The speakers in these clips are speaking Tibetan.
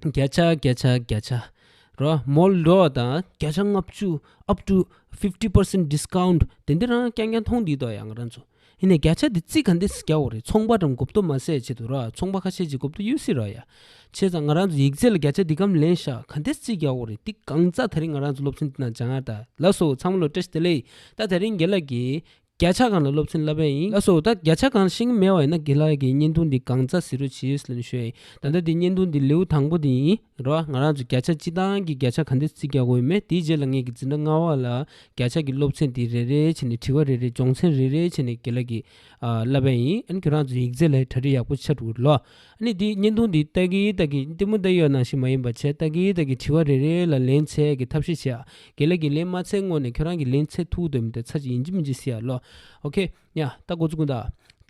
བརྒྱ་ཆ་བརྒྱ་ཆ་བརྒྱ་ཆ་རོ་མོ་ལོ་དང་བརྒྱ་ཆ་ལྔ་བཅུ up to fifty percent discount དེ་འདི་རང་རྐྱང་རྐྱང་མཐོང་དུས་དང་ཡང་ང་རང་ཚོ་ཧིན་ནས་བརྒྱ་ཆ་དེ་རྩིས་ག་འདེས་རྒྱག་འོ་རེད་ཚོང་པ་དང་གོ་བསྡུར་མ་ཟད་བྱེད་དུ་རོ་ཚོང་པ་ཁ་ཤས་ཀྱི་གོ་བསྡུར་ཡོད་སྲིད་རོ་ཡ་བྱས་ཙང་ང་རང་ཚོ་ཡིག་རྩལ་ལ་བརྒྱ་ཆ་འདི་གམ་ལེན་ཤག་ག་འདེས་རྩིས་རྒྱག་འོ་རེད་འདི་གང་རྩ་ད་རིང་ང་རང་ཚོ་སློབ་ཆེན་འདི་ན་སྦྱང་ཡ་ད་ལ་སོ་ཚང་མ་ལོ་བཀྲ་ཤིས་བདེ་ལེགས་ད་ད་རིང་དགེ་ལགས་ཀྱིས་བརྒྱ་ཆ་གང་ལ་སློབ་ཚན་བསླབ་པས་ཡིན་ལ་སོགས་ད་བརྒྱ་ཆ་གང་ཤིང་མེད་བ་ཡིན་ན་དགེ་ལགས་ཀྱིས་བརྙན་ཐུང་འདི་གང་རྩ་ཟི་རུ་བྱིས་ལེན་ཤོད་ཨེ་ད་ལྟ་འདི་བརྙན་ཐུང་འདི་ལེའུ་དང་པོ་དེ་ཡིན་རོ་ང་རང་ཚོ་བརྒྱ་ཆ་སྤྱི་བཏང་གི་བརྒྱ་ཆ་ག་འདི་རྩིས་རྒྱག་དགོས་མེད་དེའི་རྗེས་ལ་ངེད་ཀྱིས་འཛིན་གྲྭ་ལྔ་བ་ལ་བརྒྱ་ཆ་གི་སློབ་ཚན་དེ་རེ་རེ་བྱས་ནས་དྲི་བ་རེ་རེ་སྦྱོང་ཚན་རེ་རེ་བྱས་ནས་དགེ་ལགས་ཀྱིས་བསླབ་པས་ཡིན་ཨ་ཁྱོད་རང་ཚོ་ཡིག་རྩལ་ལ་གྲ་སྒྲིག་ཡག་པོ་ཆགས་འདུག་ལོ་ནི་དེའི་བརྙན་ཐུང་འདི་སྟག་གིའི་སྟག་གིས་གཏི་མུག་འདི་ཡོད་ན་ཞིག་མ་ཡིན་པར་བྱས་སྟག་གིའི་སྟག་གིས་དྲི་བ་རེ་རེའི་ལ་ལན་འཚལ་གི་ཐབས་ཤེས་བྱས་ཨ། དགེ་ལས་ཀྱི་ལན་མ་འཚལ་སྔོན་ནས་ཁྱོད་རང་གི་ལན་འཚལ་ཐུག་འདོད་མི་འདོད་ཚར་གཅིག་ཡིན་གྱི་མིན་གྱི་བསྲེ་ཡ་བློ། ཨོ་ཁེ། ཡ། ད་འགོ་ཚུགས་དང།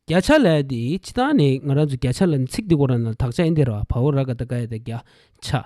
བརྒྱ་ཆ་ལས་འདི་སྤྱི་བཏང་ནས་ང་རང་ཚོ་བརྒྱ་ཆ་ལ་ནི་ཚིག་འདི་གོ་ར་ན་དག་ཆ་ཨེ་འདི་ར་བ་བ་ཨོ་ར་ག་ད་ག་ཡ་ད་བརྒྱ་ཆ།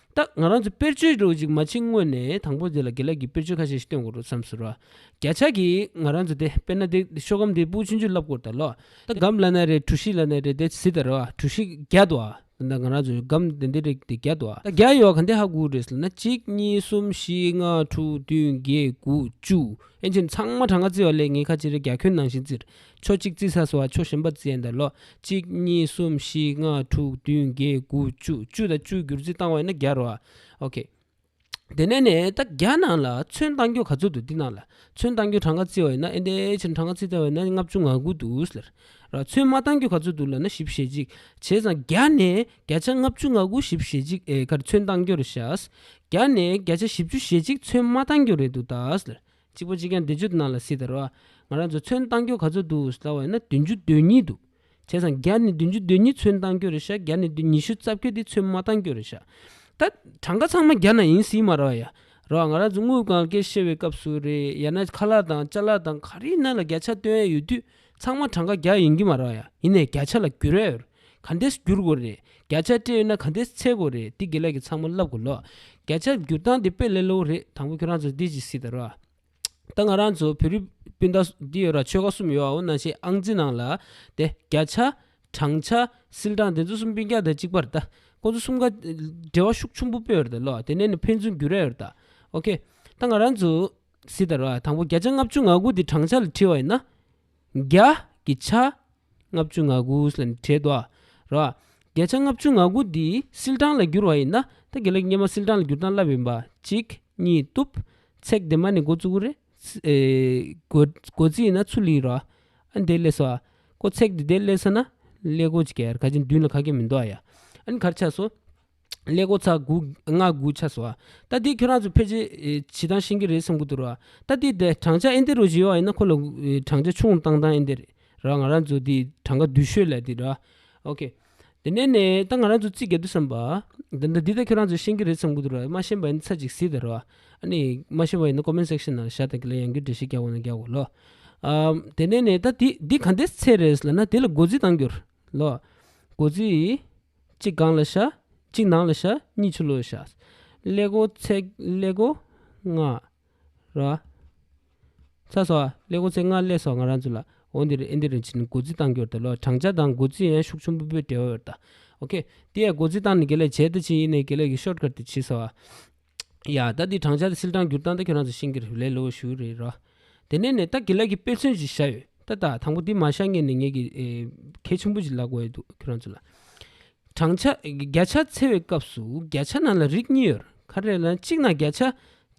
ད་ང་རང་ཚོས་དཔེར་བརྗོད་རེའུ་ཅིག་མ་ཕྱི་དངོས་ནས་དང་པོ་དེ་ལ་དགེ་ལེགས་ཀྱི་དཔེར་བརྗོད་ཁ་ཤས་ཤིག་སྟོན་དགོས་རོགས་བསམ་ཟེར། བརྒྱ་ཆ་གིས་ང་རང་ཚོས་དེ་དཔེར་ན་དེ་ཤོ་གམ་དེའི་སྤུའི་ཆུ་མཇུག་རླབས་སྐོར་དང་ལོ་ད་གམ་བླ་ན་རེ་གྲུ་བཞི་བླ་ན་རེ་དེ་བཞི་དང་རེ་བ་གྲུ་བཞི་བརྒྱ་དུ་ཨ་ད་ང་རང་ཚོས་གམ་དེ་འདི་རེག་དེ་བརྒྱ་དུ་ཨ་ད་བརྒྱ་ཡོད་ག་འདི་ཧ་གུ་རེད་ཟེར་ན་གཅིག་གཉིས་གསུམ་བཞི་ལྔ་དྲུག་བདུན་བརྒྱད་དགུ་བཅུ་ཨེ་མཆིས་ཚང་མ་དྲ་ང་བཙིར་བ་ལས་ངའི་ཁ་ཕྱི་རེ་བརྒྱ་ཁྱོན་ནང་བཞིན་བཙིར་ཕྱོགས་གཅིག་བརྩིགས་ས་སོ་བ་ཕྱོགས་གཞན་པ་བརྩིགས་ཡན་དང་ལོགས་གཅིག་གཉིས་གསུམ་བཞི་ལྔ་དྲུག་བདུན་བརྒྱད་དགུ་བཅུ་བཅུ་དང་བཅུའི་བསྒྱུར་རྩིས་བཏང་བས་ན་བརྒྱ་རོ། ཨོ་ཁེ། དེ་ནས་ནས་ད་བརྒྱ་ནང་ལ་ཚོན་བཏང་རྒྱུ་ག་ཚོད་དུ་འདི་ནང་ལ་ཚོན་བཏང་རྒྱུ་གྲངས་ཀ་བརྩི་བ་ཡིན་ན་ཨེ་འདའི་ཕྱིར་ན་གྲངས་ཀ་བརྩི་ཚར་བས་ན་ལྔ་བཅུ་ང་དགུ་འདུག་ཟེར། ར་ཚོན་མ་བཏང་རྒྱུ་ག་ཚོད་འདུག་ལ་ན་བཞི་བཞི་གཅིག་བྱས་ཙང་བརྒྱ་ནས་བརྒྱ་ཆ་ལྔ་བཅུ་ང་དགུ་བཞི་བཞི་གཅིག་ཨེ་ཁར་ཚོན་བཏང་རྒྱུ་རེད་བཞག། བརྒྱ་ནས་བརྒྱ་ཆ་བཞི་བཅུ་ཞེ་གཅིག་ཚོན་མ་བཏང་རྒྱུ་རེད་འདུག་ད་ཟེར། གཅིག་པོ་གཅིག་ཀྱང་བདེ་སྤྱོད་དུ་གནང་ལ་སྲིད་དར་བ། ང་རང་ཚོ་མཚོན་བཏང་རྒྱུ་ག་ཚོད་འདུག་ཟླ་བ་ན་བདུན་བཅུ་དོན་གཉིས་འདུག་བྱས་ཙང་བརྒྱ་ནས་བདུན་བཅུ་དོན་གཉིས་མཚོན་བཏང་རྒྱུ་རེད་ཤག་བརྒྱ་ནས་བདུན་ཉི་ཤུ་རྩ་བརྒྱད་འདི་མཚོན་མ་བཏང་རྒྱུ་རེད་ཤག་ད། གྲངས་ཀ་ཚང་མ་བརྒྱ་ན་ཡིན་སྲིད་མ་རེད་བ་ཡ། རེད་བ་ང་རང་ཚོ་དངུལ་གང་སྐྱེལ་བཤེར་བའི་སྐབས་སུ་རེད་ཡ་ན་ཁ་ལག་དང་ལྕགས་ལག་དང་ག་རེ་ཡིན་ན་ལ་བརྒྱ་ཆ་སྟོན་ཡ་ཡོད་དུས་ཚང་མ་གྲངས་ཀ་བརྒྱ་ཡིན་གྱི་མ་རེད་བ་ཡ་ཡིན་ནས་བརྒྱ་ཆ་ལ་བསྒྱུར་ཡ་ཡོད་རེད་ག་འདེས་བསྒྱུར་དགོས་རེད་བརྒྱ་ཆ་སྤྲད་ཡོད་ན་ག་འདེས་འཚལ་དགོས་རེད་འདི་དགེ་ལེགས་ཀྱི་ཚང་མ་བསླབ་དགོས་ལོ་བརྒྱ་ཆ་བསྒྱུར་སྟངས་འདི་དཔེ་ལེ་ལོའུ་རེད་དང་པོ་ཁྱོད་རང་ཚོ་འདི་ཅིག་སྲིད་ད་རོ། ད་ང་རང་ཚོ་བོད་རིགས་སྤུན་ཟླ་འདི་ཡོད་ར་ཆོལ་ཁ་གསུམ་ཡོད་བའོ་ན་ཞེས་ཨང་རྩིས་ནང་ལ་དེ་བརྒྱ་ཆ། བགྲང་བྱ། སིལ་གྲངས་དེ་ཚོ་གསུམ་སྤུན་བརྒྱ་དང་གཅིག་པར་ད་ཁོ་ཚོ་གསུམ་ཀ་འབྲེལ་བ་ཤུགས་ཆུང་པོ་སྤེལ་ཡོད་རེད་ལོ་དེ་ནས་ནི་ཕན་ཚུན་བསྒྱུར་ར་ཡོད་རེད་ད། ཨོ་ཁེ། ད་ང་རང་ཚོ་སྲིད་ད་རོ་དང་པོ་བརྒྱ་ཆ་ལྔ་བཅུ་ང་དགུ་འདི་བགྲང་བྱ་ལ་བྲིས་བ་ཡིན་ན། བརྒྱ། ཀྱི་ཆ་ལྔ་བཅུ་ང་དགུ་ལ་བྲི་དོ། རོ། བརྒྱ་ཆ་ལྔ་བཅུ་ང་དགུ་འདི་སིལ་སྦྲང་ལ་བསྒྱུར་བ་ཡིན་ན་ད་གེ་ལེགས་སྙེ་མ་སིལ་སྦྲང་ལ་བསྒྱུར་སྟངས་བསླབ་ཡིན་པ་གཅིག་གཉིས་གཏུབ། ཚེག་དེ་མ་ནི་མགོ་བཙུགས། རེགོ་རྩིས་ན་ཚུ་ལི་རོ། ཨ་འདེ་ལེ་སོ། ཀོ་ཚེག་དེ་དེ་ལེ་ས་ན། ལེ་གོ་ཅི་ཀ་ཡར་ཁ་ཅན་བདུན་ལ་ཁ་སྐད་མི་འདོགས་ཡ། ཨ་ནི་གར་ཆགས་སོ། ཀླད་ཀོར་ཚ་དགུ་ལྔ་དགུ་ཆགས་སོང། ད་དེས་ཁྱོད་རང་ཚོ་ཕལ་ཆེར་བྱེད་སྟངས་ཤེས་ཀྱི་རེད་བསམ་གྱི་འདུག་ར། ད་དེས་དེ་བགྲང་བྱ་ཨེ་འདི་རུ་བཞེས་བ་ཡིན་ན་ཁོ་ལ་བགྲང་བྱ་ཆུང་བཏང་སྟངས་ཨེ་འདི་རེད་ར། ང་རང་ཚོ་དེའི་གྲངས་ཀ་བསྡུས་ཤོས་ལ་དེ་ར། ཨོ་ཁེ། དེ་ནས་ནས་ད་ང་རང་ཚོ་རྩིས་དགོས་འདུག་བསམ་པ། ད་ནི་འདི་ད་ཁྱོད་རང་ཚོས་ཤེས་ཀྱི་རེད་བསམ་གྱི་འདུག་ར་མ་ཤེས་པ་ཡིན་ན་ཚར་གཅིག་གཟིགས་དང་ར། ཨ་ནི་མ་ཤེས་པ་ཡིན་ན Comment Section ནང་བཞག་དང་གི་ལ་ཡང་རྒྱུ་འབྲས་ཤིག་རྒྱག་དགོས་ན་རྒྱག་དགོས་ལོ། ཨ། དེ་ནས་ནས་ད་དེ་འདི་ག་འདི་ཚེ་རེད་ཟེར་ན་དེ་ལ་འགོ་འཛིན་གཏང་རྒྱུར། ལོ། སྒོ་ཚུལ་ཡིས། གཅིག་སྒང་ལ་བྱ། གཅིག་ནང་ལ་བྱ། གཉིས་ཆུ་ལོག་བྱ། ཀླད་སྒོ་ཚེག་ཀླད་སྒོ་ལྔ། ར། ཚ་སོགས། ཀླད་སྒོ་ཚེག་ལྔ་ཀླད་སོགས་ང་རང་ཚོ་ལ། འོ་འདིར་ཨེ་འདིར་རིན་ཆེན་སྒོ་ཚུལ་བཏང་རྒྱུར་ལྟ་ལོ། བགྲང་བྱ་དང་སྒོ་ཚུལ་ཡན་ཤུགས་ཆུང་པོ་པོའི་འབྲེལ་བ་བར་ལྟ། ཨོ་ཁེ། དེ་ཡང་སྒོ་ཚུལ་བཏང་ནས་དགེ་ལས་བྱས་ལྟ་ཅི་ཡིན་ནས་དགེ་ལས་ཀྱི་ཤོར་དཀར་དུ་བྱས་སོ། ཡ། ད་འདི་བགྲང་བྱ་དེ་སིལ་སྦྲང་བསྒྱུར་སྟངས་ད་ཁྱོད་རང་ཚོ་ཤེས་ཀྱི་རེད་ལེ་ལོ་ཞུ་རེད་ར། དེ་ནས་ནས་ད་དགེ་ལགས་ཀྱི་དཔེ་མཚོན་ཞིག་བཞག་ཡོད་ད་ད་དང་པོ་འདི་མ་བཞག་ངས་ནས་ངས་ཀྱི་གལ་ཆེན་པོ་ཞིག་ལབ་དགོས་ཡོད་འདུག་ཁྱོད་རང་ཚོ་ལ། བགྲང་བྱ་བརྒྱ་ཆ་འཚལ་བའི་སྐབས་སུ་བརྒྱ་ཆ་ནང་ལ་རིགས་གཉིས་ཡོད་ཁ་རེད་ལ་གཅིག་ནང་བརྒྱ་ཆ་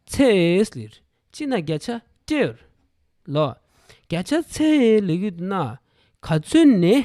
འཚལ་ལེ་རེད་གཅིག་ནང་བརྒྱ་ཆ་སྤྲེལ་ལོ། བརྒྱ་ཆ་འཚལ་ལེ་གུ་ན་ག་ཚོད་ནས།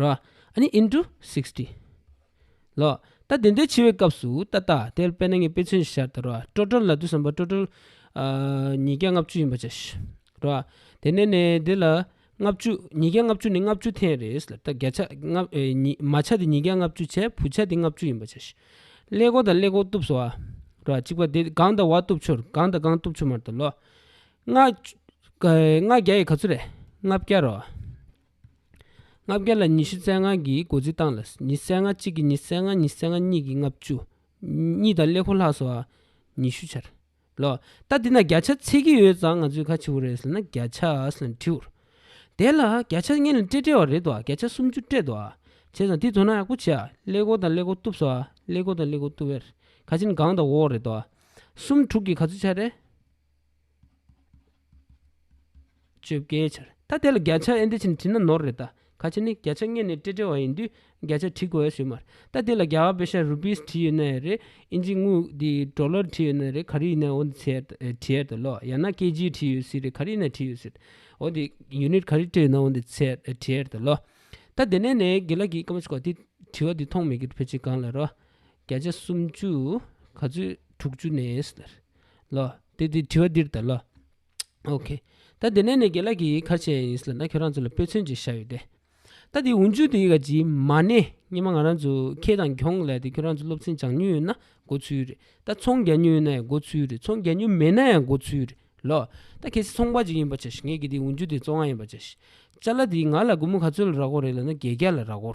རོ། ཨཱ་ནི into sixty། ལོ། ད་དེ་འདོད་འཆི་བའི་སྐབས་སུ་ཏག་ཏག་དེར་དཔལ་ནཱ་གི་དཔེས་མཚོན་ཤར་ཏེ་རོ། སྤྲོ་བྲལ་ལ་དུས་སམ་པ་སྤྲོ་བྲལ། ཉིས་བརྒྱ་ལྔ་བཅུ་ཡིན་པར་བྱ། རོ། དེ་ནས་ནས་དེ་ལ། ལྔ་བཅུ། ཉིས་བརྒྱ་ལྔ་བཅུ་ནི་ལྔ་བཅུ་ཐེངས་རེས་ལ་བརྒྱ་ཆ། མ་ཆ་དེ་ཉིས་བརྒྱ་ལྔ་བཅུ་བྱས་བུ་ཆ་དེ་ལྔ་བཅུ་ཡིན་པར་བྱ། ཀླད་གོར་དང་ཀླད་གོར་གཏུབས་སོ། རོ། གཅིག་པ་དེ་གང་དང་བ་གཏུབས་ཆུར་གང་དང་གང་གཏུབས་ཆུ་མར་དུ་ལོ། ལྔ། ལྔ་བརྒྱ་ཡི་ག་ཚོད་རེད། ལྔ་བརྒྱ་རོ། ལྔ་བརྒྱ་ལ་ཉི་ཤུ་རྩ་ལྔ་གྱིས་སྒོ་རྩིས་བཏང་ལ་ཉི་རྩ་ལྔ་གཅིག་གིས་ཉི་རྩ་ལྔ་ཉི་རྩ་ལྔ་གཉིས་ཀྱིས་ལྔ་བཅུ། གཉིས་དང་ཀླད་ཁོར་ལྷག་སོགས་ཨ། ཉི་ཤུ་ཆར། ལོ། ད་འདི་ན་བརྒྱ་ཆ་ཚིག་གི་ཡོད་ཙང་ང་ཚོས་ཁ་ཆེ་བོ་རེད་ཟེར་ན་བརྒྱ་ཆ་ལ་དྲིའོ། དེ་ལ་བརྒྱ་ཆ་ལྔས་ལ་སྤྲད་སྤྲད་བ་རེད་དོ་བརྒྱ་ཆ་སུམ་ཅུ་སྤྲད་དོ། བྱས་ཙང་དེ་དོ་སྣང་ཡག་པོ་བྱས་ཨ་ཀླད་ཁོར་དང་ཀླད་ཁོར་གཏུབས་སོ་ཨ་ཀླད་ཁོར་དང་ཀླད་ཁོར་གཏུབས་ཨེར། ཁ་ཆེ་ནི་སྒང་དང་འོག་རེད་དོ། སུམ་དྲུག་གིས་ག་ཚོད་ཆར་རེད། བཅོ་བརྒྱད་ཆར་ད་དེ་ལ་བརྒྱ་ཆ་ཨེ་འདི་ཕྱིན་དྲིས་ན་ནོར་རེད་ད་ག་ཕྱིན་ནི་བརྒྱ་ཆ་ལྔས་ནི་སྤྲེ་སྤྲེ་བ་ཡིན་དུས་བརྒྱ་ཆ་དྲི་དགོས་ཡ་ཞུ་མར་ད་དེ་ལ་རྒྱ་བ་པེ་ཤ་རུ་པིས་དྲི་ཡོད་ན་ཡ་རེད་ཨིན་ཇི་དངུལ་དེ་གྲོ་ལོར་དྲི་ཡོད་ན་རེད་ག་རི་ཡིན་ན་འོ་འདི་ཚེ་དྲི་ཡར་དུ་ལོག་ཡ་ན་སྐད་ཇིའི་དྲི་ཡོད་སྲིད་རེད་ག་རི་ཡིན་ན་དྲི་ཡོད་སྲིད་འོ་འདི unit ག་རི་སྤྲེ་ཡོད་ན་འོ་འདི་ཚེ་དྲི་ཡར་དུ་ལོག་ད་དེ་ནས་ནི་དགེ་ལགས་ཀྱིས་ཀ་མ་ཆོག་དེ་དྲི་བ་དེ་མཐོང་མེད་གི་ཕོ་ཆེ་གང་ལ་རོགས་བརྒྱ་ཆ་སུམ་ཅུ་ག་ཚོད་དྲུག་ཅུ་ནས་ལོ། དེ་དེ་དྲི་བ་འདིར་ལྟ། ལོ། ཨོ་ཁེ། ད་དེ་ནས་ནི་དགེ་ལགས་ཀྱི་ཡིག་ཁར་ཆད་ཡིན་སྲིད་ལ་ན་ཁྱོད་རང་ཚོ་ལ་དཔེ་མཚོན་ཅིག་བཞག་ཡོད་དེ། ད་དེ་འུ་ཅུ་དེ་ག་ཇི་མ་ནས་སྙེ་མ་ང་རང་ཚོ་ཁེ་དང་གྱོང་ལས་དེ་ཁྱོད་རང་ཚོ་སློབ་ཚན་སྦྱང་ཉུལ་ཡོད་ན་མགོ་ཚུལ་རེད་ད་ཚོང་རྒྱག་ཉུལ་ཡོད་ན་ཡང་མགོ་ཚུལ་རེད་ཚོང་རྒྱག་ཉུལ་མེད་ན་ཡང་མགོ་ཚུལ་རེད་ལོ། ད་གལ་སྲིད་ཚོང་པ་ཅིག་ཡིན་པར་བྱ་ཞིག་ངས་ཀྱི་དེ་འུ་ཅུ་དེ་བཙོང་ང་ཡིན་པར་བྱ་ཞིག་བྱ་ལ་དེ་ང་ལ་དགུ་མོ་ག་ཚོད་ལ་རག་གོ་རེད་ལ་ན་བརྒྱད་བརྒྱ་ལ་རག་གོ།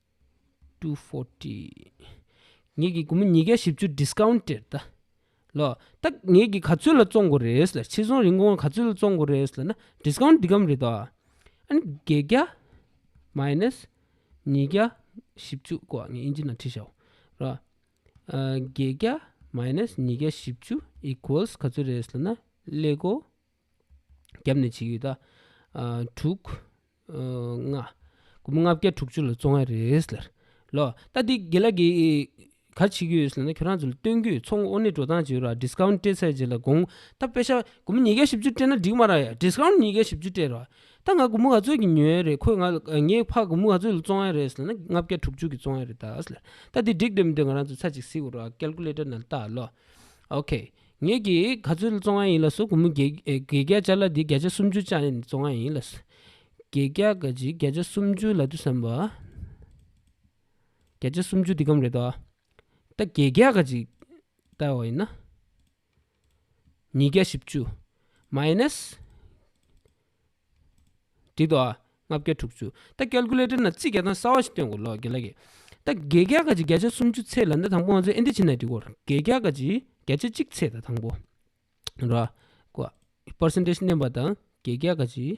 ངེད་ཀྱིས་དགོང་མོ་ཉིས་བརྒྱ་བཞི་བཅུ Discounted ད་ལོ་ད་ངེད་ཀྱིས་ག་ཚོད་ལ་བཙོང་དགོས་རེད། ཕྱིར་ཚོང་རིན་གོང་ག་ཚོད་ལ་བཙོང་དགོས་རེད་ཟེར་ན Discount འདི་ཀའམ་རེད་དོ། ཨཱ་ནི་བརྒྱད་བརྒྱ Minus ཉིས་བརྒྱ་བཞི་བཅུ་ཀོ་ངས་དབྱིན་ཇི་ནང་བྲིས་ཤོག་རོགས། བརྒྱད་བརྒྱ Minus ཉིས་བརྒྱ་བཞི་བཅུ Equals ག་ཚོད་རེད་ཟེར་ན་ཀླད་ཀོ། བརྒྱབ་ནས་བྱེད་ཡུལ་དག། དྲུག། ལྔ། དགུ་མོ་ལྔ་བརྒྱ་དྲུག་ཅུ་ལ་བཙོང་བ་རེད། ལོ། ད་འདི་དགེ་ལ་གིས་ག་བྱེད་ཀྱི་ཡོད་ཟེར་ན་ཁྱོད་རང་ཚོ་ལ་སྟོན་གྱི་ཡོད་ཚོང་དབོར་ནས་འགྲོ་སྟངས་བྱེད་རོགས Discount སྤྲད་ཚར་རྗེས་ལ་དགོང་ད་དཔེ་ཆ་དགུ་མོ་ཉིས་བརྒྱ་བཞི་བཅུ་སྤྲད་ན་འགྲིག་མ་རང་ཡ Discount ཉིས་བརྒྱ་བཞི་བཅུ་སྤྲད་རོགས་ད་ང་དགུ་མོ་ག་ཚོད་ཀྱི་ཉོས་ཡ་རེད་ཁོས་ང་ལ་ངས་ཕ་དགུ་མོ་ག་ཚོད་ལ་བཙོང་ཡ་རེད་ཟེར་ན་ལྔ་བརྒྱ་དྲུག་ཅུ་གི་བཙོང་ཡ་རེད་ད། ད་འདི་འགྲིག་འདོད་མི་འདོད་ང་རང་ཚོ་ཚ་གཅིག་གཟིགས་རོགས Calculator ནང་བལྟ་ལོ། ཨོ་ཁེ། ངེད་ཀྱིས་ག་ཚོད་བཙོང་བ་ཡིན་ལགས་སོ་གུ་མོ། བརྒྱད་བརྒྱ་བྱ་ལ་དེ་བརྒྱ་ཆ་སུམ་ཅུ་བཅག་ནས་བཙོང་བ་ཡིན་ལགས། བརྒྱད་བརྒྱ་ག་ཅིག་བརྒྱ་ཆ་སུམ་ཅུ་ལ་དུ་བསམ་པ། བརྒྱ་ཆ་སུམ་ཅུ་འདི་གམ་རེད་དོ། ད་བརྒྱད་བརྒྱ་ག་ཅིག་བཏགས་བ་ཡིན་ན། ཉིས་བརྒྱ་བཞི་བཅུ། མཱེ་ནཱེས། ཁྲི་དོ། ལྔ་བརྒྱ་དྲུག་ཅུ། རྟ་སྐལ་ཀུ་ལེ་ཏྲ་ན་རྩི་བརྒྱ་དང་གསའ་བ་ཞིག་སྟོན་དགོས་ལོ་དགེ་ལ་ཀྱེ། རྟ་བརྒྱད་བརྒྱ་ཀ་ཅིག་བརྒྱ་ཆ་སུམ་ཅུ་ཚེས་ལ་ཟླ་དང་པོ་ང་ཚོའི་ཨིན་དི་ཕྱི་ནང་གི་གོར་བརྒྱད་བརྒྱ་ཀ་ཅིག་བརྒྱ་ཆ་གཅིག་ཚེས་ལ་དང་པོ། ར། ཀོ། Percentage བསྣན་པ་དང་བརྒྱད་བརྒྱ་ཀ་ཅིག།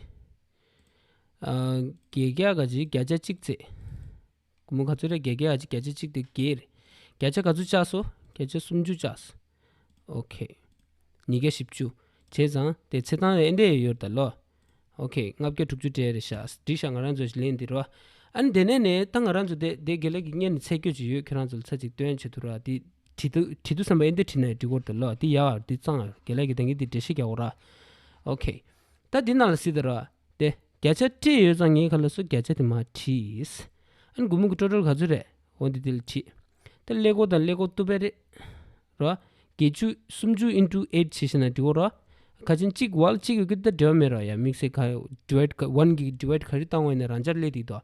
བརྒྱད་བརྒྱ་ཀ་ཅིག་བརྒྱ་ཆ་གཅིག་ཚེས། གུ་མུ་ག་ཚོད་རེ་བརྒྱད་བརྒྱད་ཨ་ཅེ་བརྒྱ་ཆ་གཅིག་སྟེ་བརྒྱད་རེ། བརྒྱ་ཆ་ག་ཚོད་བཅགས་སོ། བརྒྱ་ཆ་སུམ་ཅུ་བཅགས་སོ། ཨོ་ཁེ། ཉིས་བརྒྱ་བཞི་བཅུ། བྱས་ཙང་དེ་ཚེ་ཐང་རེ་ཨེ་འདྲས་ཡོད་ཡོད་ད་ལོ། ཨོ་ཁེ། ལྔ་བརྒྱ་དྲུག་ཅུ་གྲས་རེ་བཞག་སྒྲིག་བཞག་ང་རང་ཚོས་ལེན་འདི་རུ་ཨ། ཨ་ནི་དེ་ནས་ནས་ད་ང་རང་ཚོ་བསྡད་བསྡད་དགེ་ལེགས་ཀྱི་གཉེར་ནས་ཚད་བསྐྱོད་ཅིག་ཡོད་ཁྱེད་རང་ཚོ་ལ་ཚ་ཅིག་སྟོན་བྱེད་དུ་ར་འདི། བྲིས་འདུག་བྲིས་འདུག་བསམ་པ་ཨེ་འདས་བྲིས་ན་ཡང་འགྲིག་གོ་ད་ལོ་འདི་ཡ་འདི་གཙང་ཨ་དགེ་ལེགས་ཀྱི་ད་གིན་འདི་འགྲེལ་བཤད་རྒྱག་གོ་ར། ཨོ་ཁེ། ད་འདི་ནང་ལ་བསྲིས་ད་ར། ཏེ། བརྒྱ་ཆ་ཁྲི་ཡོད་ཙང་ངས་ག་ལ་སུ་བརྒྱ་ཆ་དེ་མ་བྲིས། ཨ་ནི་དགུ་མུ་གུ་ཀྲོ་ཀྲོ་ག་ཚོད་རེད་འོ་འདི་དེ་ལ་བྲིས། ད་ཀླད་ཀོར་དང་ཀླད་ཀོར་ཏུ་པད་རེད། རོ། བརྒྱད་ཅུ་སུམ་ཅུ་ཨིན་ཀྲུ་ཨེར་བྱས་ཤེ་ན་འགྲིག་གོ་རོ། ཁ་ཆེན་གཅིག་ཝལ་གཅིག་གི་ཀི་ད་འབྲེལ་བ་མེད་རོ་ཡ་དམིགས་བསལ་ཁ་ཟློས་ཀ་ཝན་གྱི་འབྲེལ་བ་ག་རེ་བཏང་བ་ཡིན་ན་རང་ཅག་ཀླད་འདིའི་དོ།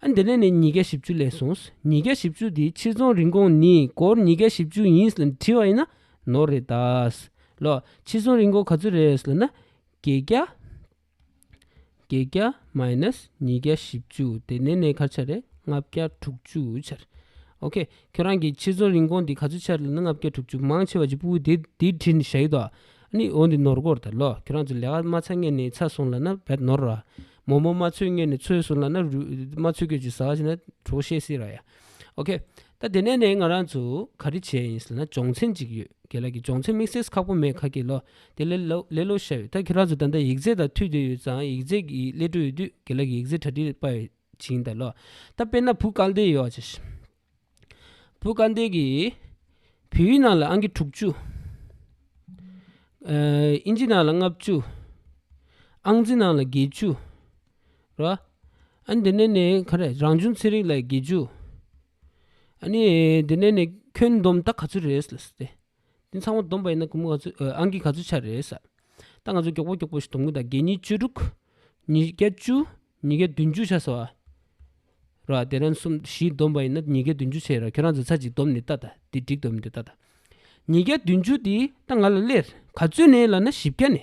ཨ་འདི་ནས་ནས་ཉིས་བརྒྱ་བཞི་བཅུ་ལས་སོང། ཉིས་བརྒྱ་བཞི་བཅུ་དེའི་ཕྱིར་རྫོང་རིན་གོང་ནི་སྒོར་ཉིས་བརྒྱ་བཞི་བཅུ་ཡིན་ལ་བྲིས་བ་ཡིན་ན་ནོར་རེད་ད། ལོ། ཕྱིར་རྫོང་རིན་གོང་ག་ཚོད་རེད་ལ་ན། བརྒྱད་བརྒྱ། བརྒྱད་བརྒྱ་མཱེནཱས་ཉིས་བརྒྱ་བཞི་བཅུ་དེ་ནེ་ནེ་གར་ཆ་རེད་ལྔ་བརྒྱ་དྲུག་ཅུ་ཆ་རེད་ཨོ་ཁེ་ཁྱོད་རང་གི་ཕྱི་ཚོང་རིན་གོང་འདི་ག་ཚོད་ཆ་རེད་ལ་ན་ལྔ་བརྒྱ་དྲུག་ཅུ་མང་ཆེ་བ་ཅིག་པུའུ་དེ་དེའི་དྲིན་བཞག་ཡོད་དོ་ཨ་ནི་འོ་འདི་ནོར་སྒོར་དང་ལོ་ཁྱོད་རང་ཚོ་ལས་ཀ་མ་ཚར་ངན་ནས་ཚར་སོང་ལ་ན་བད་ནོར་ར་མོ་མོ་མ་ཚོད་ངན་ནས་ཚོད་སོང་ལ་ན་རུས་མ་ཚོད་ཁྱོད་ཀྱི་ཟ་བ་ཞིག་ན་གྲོགས་བཤད་སྲིད་ར་ཡ། ཨོ་ཁེ། ད་དེ་ནས་ནས་ང་རང་ཚོ་ག་རེ་བྱས་ཡིན་ཟེར་ན་སྦྱོང་ཚན་གཅིག་ཡོད་དགེ་ལགས་ཀྱི་སྦྱོང་ཚན་དམིགས་བསལ་ཁག་པོ་མེད་ཁ་གི་ལོ་དེ་ལས་ལོ་ལས་ལོ་ཤ་ཡོད་ད་ཁྱེད་རང་ཚོ་ད་ལྟ་ཡིག་རྩལ་དང་མཐུད་དུ་ཡོད་ཙང་ཡིག་རྩལ་གྱི་ཀླད་སྤྲོད་ཡོད་དུས་དགེ་ལགས་ཀྱི་ཡིག་རྩལ་གྲ་སྒྲིག་དཔའ་ཡོད་ཅིང་ད་ལོ་ད་དཔེར་ན་བུ་དཀར་འདེད་ཡོད་ཅེས། བུ་དཀར་འདེད་ཀྱི་བེའུ་ཡི་ནང་ལ་ཨང་ཀི་དྲུག་བཅུ། ཨིན་ཇི་ནང་ལ་ལྔ་བཅུ། ཨང་རྩི་ནང་ལ་བརྒྱད་བཅུ། རོ། འདི་ནས་ནི་ག་རེ་རང་བྱུང་ཚན་རིག་ལ་དགེ་བཅུ། འདི་ནས་ནི་ཁྱོན་བསྡོམས་ད་ག་ཚོད་རེད་ཟེར་ཏེ། འདི་ཚང་མ་བསྡོམས་པ་ཡིན་ན་གུང་མོ་ག་ཚོད་ཨང་ཀི་ག་ཚོད་ཆགས་རེད་ཟེར། ད་ང་ཚོ་མགྱོགས་པོ་མགྱོགས་པོ་ཞིག་བསྡོམས་ཀྱི་འདུག་དགེ་གཉིས་བཅུ་དྲུག། ཉིས་བརྒྱ་བཅུ། ཉིས་བརྒྱ་བདུན་ཅུ་ཆགས་སོང། རོ། དེ་རིང་གསུམ་བཞི་བསྡོམས་པ་ཡིན་ན་ཉིས་བརྒྱ་བདུན་ཅུ་ཆགས་རེད་ཁྱོད་རང་ཚོ་ཚར་གཅིག་བསྡོམས་ནི་ལྟ་ད་འདི་འགྲིག་འདོད་མི་འདོད་ལྟ་ད། ཉིས་བརྒྱ་བདུན་ཅུ་འདི་ད་ང་ལ་སླེབས་ག་ཚོད་ནས་ལ་ན་བཞི་བརྒྱ་ནས།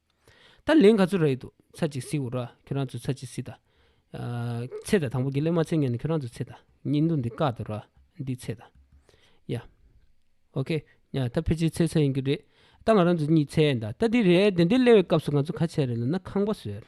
ད་ལན་ག་ཚོད་རག་ཡོད་འདུག་ཚར་གཅིག་བསྲེགས་འོ་རགས་ཁྱོད་རང་ཚོས་ཚར་གཅིག་བསྲེགས་དང། ཚེ་ད་དང་པོ་གི་གླེང་མ་ཚེ་ཉན་ནས་ཁྱོད་རང་ཚོས་ཚེ་ད་ཉིན་འདུག་འདི་བཀག་འདུག་ར་འདི་ཚེ་ད་ཡ། ཨོ་ཁེ། ཡ་ད་ཕལ་ཆེར་ཚེ་ཚར་ཡིན་གྱི་རེད། ད་ང་རང་ཚོ་གཉིས་ཚེ་ད་ད་འདི་རེད་དེ་འདི་གླེང་བའི་སྐབས་སུ་ང་ཚོ་ག་ཚད་རེད་ལབ་ན་ཁང་པ་བཟོས།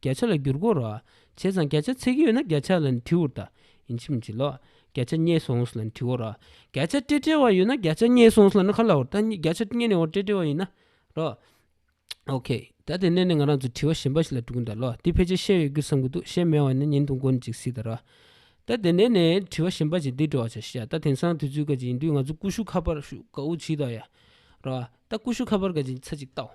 བརྒྱ་ཆ་ལ་བསྒྱུར་དགོས་རོ། བྱས་ཙང་བརྒྱ་ཆ་ཚིག་ཡོད་ན་བརྒྱ་ཆ་ལ་ནི་དྲི་འུར་ད་ཡིན་ཕྱིན་མི་བྱེད་ལོ། བརྒྱ་ཆ་རྙེད་སོང་ལ་ནི་དྲི་འོ་རོ། བརྒྱ་ཆ་སྤྲེ་སྤྲེ་བ་ཡོད་ན་བརྒྱ་ཆ་རྙེད་སོང་ལ་ནི་ག་ལ་འོ། ད་བརྒྱ་ཆ་རྙེད་ནས་འོ་སྤྲེ་སྤྲེ་བ་ཡིན་ན་རོ། OK། ད་དེ་གནས་ནས་ང་རང་ཚོ་དྲི་བ་གཞན་པ་ཞིག་ལ་འགྲོ་གིན་གདའ་ལོ། འདི་ཕལ་ཆེར་བཤད་ཡོད་རྒྱུ་བསམ་གི་འདུག་བཤད་མེད་བ་ནི་ཉིན་དང་དགོན་གཅིག་སྲིད་ད་རོ། ད་དེ་གནས་ནས་དྲི་བ་གཞན་པ་ཞིག་འདི་འགྲོ་བ་བྱ་ཤེས་ད་དེང་སང་དུས་ཚོད་ག་ཅིག་ཡིན་དུས་ང་ཚོ་ཀུ་ཤུ་ཁ་པར་ཤུ་ཀ་འུ་བྱིད་ད་ཡ་རོ། ད་ཀུ་ཤུ་ཁ་པར་ག་ཅིག་ཚ་ཅིག་བལྟའོ།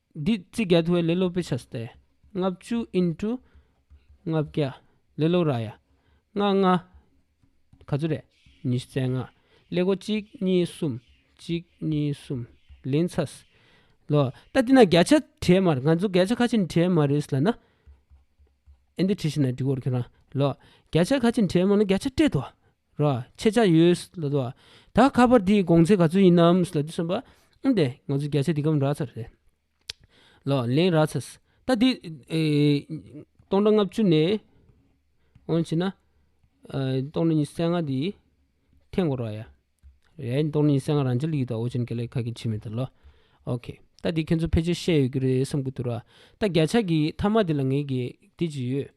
Did རྩིས་རྒྱག་ཐུབ་པའི་ལེ་ལོ Pictures སྟེ། ལྔ་བཅུ into ལྔ་བརྒྱ། ལེ་ལོ་ར་ཡ། ལྔ་ལྔ། ག་ཚོད་རེད། ཉི་ཤུ་རྩེག་ལྔ། ལེ་སྒོ་གཅིག་གཉིས་གསུམ། གཅིག་གཉིས་གསུམ། ལན་ཚྭས། ལོ། ད་འདི་ན་བརྒྱ་ཆ་བྲིས་མ་རེད། ང་ཚོ་བརྒྱ་ཆ་ཁ་ཆེ་བྲིས་མ་རེད་ལ་ན། ཨེ་འདི་བྲིས་ཤིག་ན་འགྲིག་གོ་རེ་ཁྱོད་རང། ལོ། བརྒྱ་ཆ་ཁ་ཆེ་བྲིས་མ་ན་བརྒྱ་ཆ་སྤྲད་དོ། ར། ཆེད་བཅར་ཡོད། ལ་དྭགས་ད་ཁ་པར་དེའི་དགོངས་ཚད་ག་ཚོད་ཡིན་ནམ། ལ་དུས་སུམ་པ། ཨུན་ཏེ་ང་ཚོས་བརྒྱ་ཆ་འདི་གམ་རག་ཚར་རེད། ལ་ལན་རག་ཚར། ད་དེ། སྟོང་ཕྲག་ལྔ་བཅུ་ནས། འོང་བྱེད་ན། སྟོང་ཕྲག་ཉི་ས་ལྔ་དེ། ཐེངས་འགོར་བ་ཡ། རེད་སྟོང་ཕྲག་ཉི་ས་ལྔ་རང་འཇལ་ཡིག་དང་ཨོ་ཅན་ག་ལེ་ཁ་གི་ཆི་མེད་ད་ལོ། ཨོ་ཁེ། ད་དེ་ཁྱོད་ཚོ་ཕལ་ཆེར་ཤེས་ཡོད་ཀྱི་རེད་བསམ་གྱི་འདུག་ར། ད་བརྒྱ་ཆ་གི་མཐའ་མ་དེ་ལ་ངས་དགེ་དེ་ཅི་ཡོད།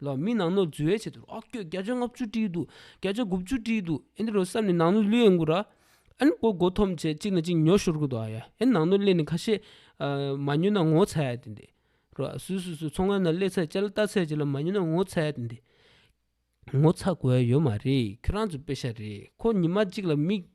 ལ་མི་ནང་ནོར་འཛོལ་བྱས་དུས་ཨ་སྐྱོ་བརྒྱ་ཆ་ལྔ་བཅུ་བྲིས་འདུག་བརྒྱ་ཆ་དགུ་བཅུ་བྲིས་འདུག་ཨེ་འདི་རུ་བསམ་ནས་ནང་ནོར་གླུད་ཡས་མགུ་ར་ཨེ་མགོ་མགོ་འཐོམ་བྱས་གཅིག་ན་གཅིག་ཉོ་ཤོར་གི་འདུག་ཨ་ཡ་ཨེ་ནང་ནོར་གླད་ནས་ཁ་ཤས་མ་ཉོས་ན་ངོ་ཚ་ཡ་དེ་འདི་རུ་སུས་སུས་སུས་ཚོང་ཁང་ན་གླད་ཚད་བཅའ་ལ་བལྟ་ཚད་བྱས་ལ་མ་ཉོས་ན་ངོ་ཚ་ཡ་དེ་འདི་ངོ་ཚ་དགོས་ཡ་ཡོད་མ་རེད་ཁྱོད་རང་ཚོ་དཔེ་ཤ་རེད་ཁོ་ཉི་མ་གཅིག་ལ་མིག།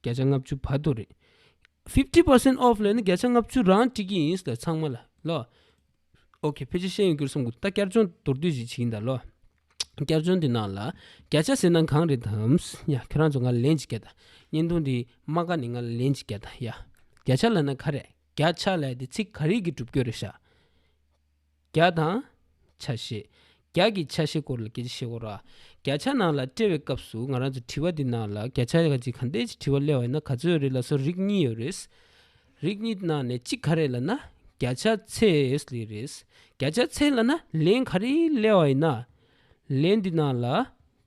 བརྒྱ་ཆ་ལྔ་བཅུ་བར་དོ་རེད། fifty percent off ལས་ནི་བརྒྱ་ཆ་ལྔ་བཅུ་རང་སྤྲད་ཀྱི་ཡིན་ཟེར་ཚང་མ་ལ་ལོ། ok ཕལ་ཆེར་ཤེས་ཡོན་གྱི་སོང་གི་ད་བསྐྱར་སྦྱོང་མདོར་བསྡུས་ཞིག་བྱེད་ཀྱིན་གདའ་ལོ། བསྐྱར་སྦྱོང་འདི་ནང་ལ་བརྒྱ་ཆ་ཟེར་ན་གང་རེད་དམ། ཡ་ཁྱོད་རང་ཚོ་ང་ལ་ལན་ཅིག་བརྒྱ་དང་བརྙན་ཐུང་འདིའི་རྨ་ཁ་ནས་ང་ལ་ལན་ཅིག་བརྒྱ་དང་ཡ། བརྒྱ་ཆ་ལ་ན་ག་རེ། བརྒྱ་ཆ་ལས་དེ་ཚིག་ག་རེ་གི་གྲུབ་སྐྱོན་རེད་ཤག། བརྒྱ་དང། ཆ་ཤས། བརྒྱ་ཀྱི་ཆ་ཤས་སྐོར་ལ་བརྒྱད་ཅུ་ཞེ་དགུ་ར། བརྒྱ་ཆ་ནང་ལ་དཔྲལ་བའི་སྐབས་སུ་ང་རང་ཚོས་དྲི་བ་འདི་ནང་ལ་བརྒྱ་ཆ་གཅིག་གང་འདས་ཀྱི་དྲི་བ་སླེ་བ་ཡིན་ན་ག་ཚོད་རེད་ལ་སོགས་རིགས་གཉིས་ཡོད་རེད། རིགས་གཉིས་ནང་ནས་གཅིག་ག་རེད་ལ་ན་བརྒྱ་ཆ་ཚད་ལས་རེད། བརྒྱ་ཆ་ཚད་ལ་ན་ལན་ག་རེ་སླེ་བ་ཡིན་ན། ལན་འདི་ནང་ལ་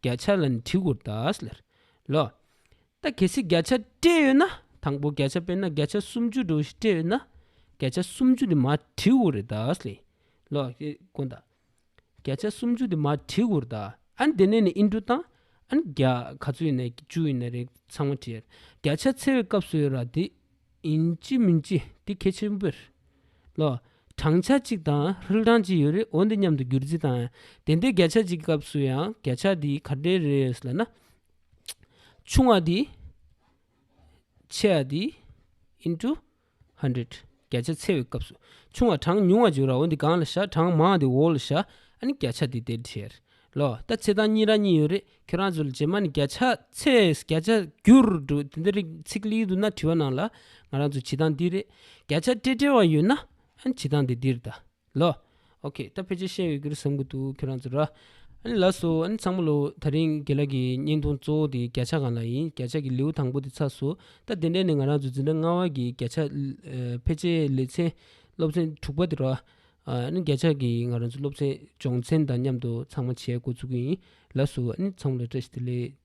བརྒྱ་ཆ་ལ་ནི་དྲི་གུར་དག་ལ། ད་གལ་སྲིད་བརྒྱ་ཆ་སྤྲད་ཡོད་ན་དང་པོ་བརྒྱ་ཆ་དཔེར་ན་བརྒྱ་ཆ་སུམ་ཅུ་དྲུག་སྤྲད་ཡོད་ན་བརྒྱ་ཆ་སུམ་ཅུ་དེ་མ་བྲིས་འུར་རེད་ད་ལས་ལོག་ཀྱི་དཀོན་ད། བརྒྱ་ཆ་སུམ་ཅུ་དེ་མ་བྲིས་འུར་ད་ཨན་དེ་ནས་ནི་ཨིན་འགྲོ་དང་ཨན་བརྒྱ་ག་ཚོད་ཡིན་ན་བཅུ་ཡིན་ན་རེད་ཚང་མ་བྲིས་བརྒྱ་ཆ་ཚེ་བའི་སྐབས་སུ་ཡོད་ར་དེ་ཡིན་ཅི་མིན་ཅི་དེ་གལ་ཆེན་པོ་རེད་ལོག་བགྲང་བྱ་གཅིག་དང་ཧྲིལ་བགྲང་གཅིག་ཡོད་རེད་འོ་འདི་མཉམ་དུ་བསྒྱུར་རྩིས་དང་དེ་འདྲའི་བརྒྱ་ཆ་གཅིག་གི་སྐབས་སུ་ཡང་བརྒྱ་ཆ་དེ་ག་འདྲའི་རེད་ལ་ན་ཆུང་བ་དེའི་ཆེ་བ་དེ into hundred བརྒྱ་ཆ་ཚེ་བའི་སྐབས་སུ་ཆུང་བ་གྲངས་ཉུང་བ་བརྗོད་ར་འོ་འདི་གང་ལ་བཞག་གྲངས་མང་བ་འདི་འོག་ལ་བཞག་ཨ་ནི་བརྒྱ་ཆ་འདི་དེར་བྱེར་ལོ་ད་ཚེ་དང་གཉིས་ར་གཉིས་ཡོད་རེད་ཁྱོད་རང་ཚོ་ལ་རྗེས་མ་ནི་བརྒྱ་ཆ་ཚེ་བརྒྱ་ཆ་འགྱུར་འགྲོ་དེ་འདི་རིགས་ཚིག་ལེའི་དུ་ན་བྲི་བ་ནང་ལ་ང་རང་ཚོ་བྱེ་ཐང་འདི་རེད་བརྒྱ་ཆ་སྤྲེལ་སྤྲེལ་བ་ཡོད་ན་ཨ་ནི་བྱེ་ཐང་འདི་འདིར་གདའ། ལོ། ཨོ་ཁེ། ད་ཕལ་ཆེར་ཤེས་ཡོད་གི་རེད་བསམ་གི་འདུག་ཁྱོད་རང་ཚོ་ར། ཨ་ནི་ལགས་སོ། ཨ་ནི་ཚང་མ་ལོ། ད་རིང་དགེ་ལགས་ཀྱི་བརྙན་ཐུང་གཙོ་བོ་དེ་བརྒྱ་ཆ་གང་ལ་ཡིན་བརྒྱ་ཆ་གི་ལེའུ་དང་པོ་དེ་ཚགས་སོ། ད་དེ་འདྲ་ནི་ང་རང་ཚོ་འཛིན་གྲྭ་ལྔ་བ་གི་བརྒྱ་ཆ། ཕལ་ཆེར་ལེ་ཚན། སློབ་ཚན་དྲུག་པ་དེ་ར། ཨ་ནི་བརྒྱ་ཆ་གི་ང་རང་ཚོ་སློབ་ཚན་སྦྱོང་ཚན་དང་མཉམ་དུ་ཚང་མ་བྱས་འགོ་ཚུགས་ཀྱི་ཡིན། ལགས་སོ། ཨ་ནི་ཚང་མ་ལ་བཀྲ་ཤིས་བདེ་ལེགས།